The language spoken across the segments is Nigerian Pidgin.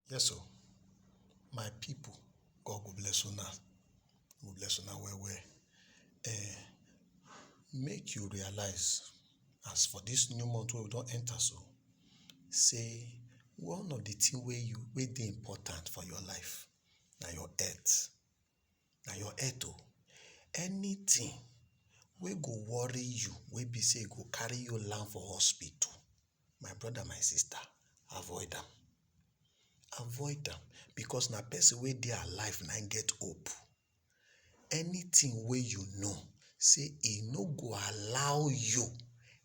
Yes o, my pipu God go bless una, go bless una well well um make you realise as for dis new month wey we don enter so sey one of de thing wey you wey dey important for your life na your health. na your health o anytin wey go worry you wey be say e go carry you land for hospital my brother my sister avoid am avoid am because na person wey dey alive na him get hope anytin wey you know say e no go allow you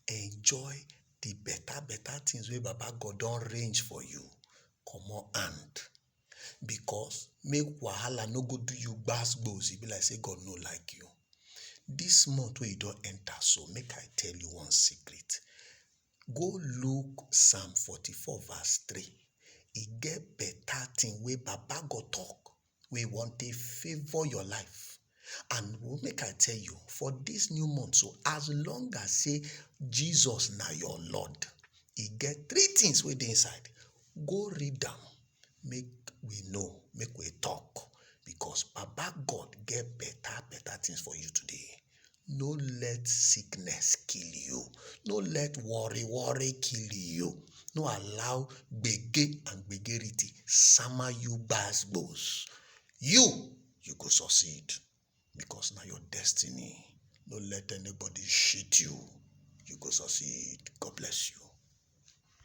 enjoy the better better things wey baba God don arrange for you comot hand because make wahala no go do you gbas gbos e be like say God no like you. This month wey you don enter so make I tell you one secret go look psalm forty four verse three e get better thing wey baba God talk wey wan take favour your life And make I tell you, for this new month, so as long as say Jesus na your Lord, e get three things wey dey inside. Go read am, make we know, make we talk, because Baba God get better, better things for you today. No let sickness kill you. No let worry, worry kill you. No allow gbege and gbegerity sama you gbas gbos. You you go succeed because na your destiny no let anybody cheat you you go succeed God bless you.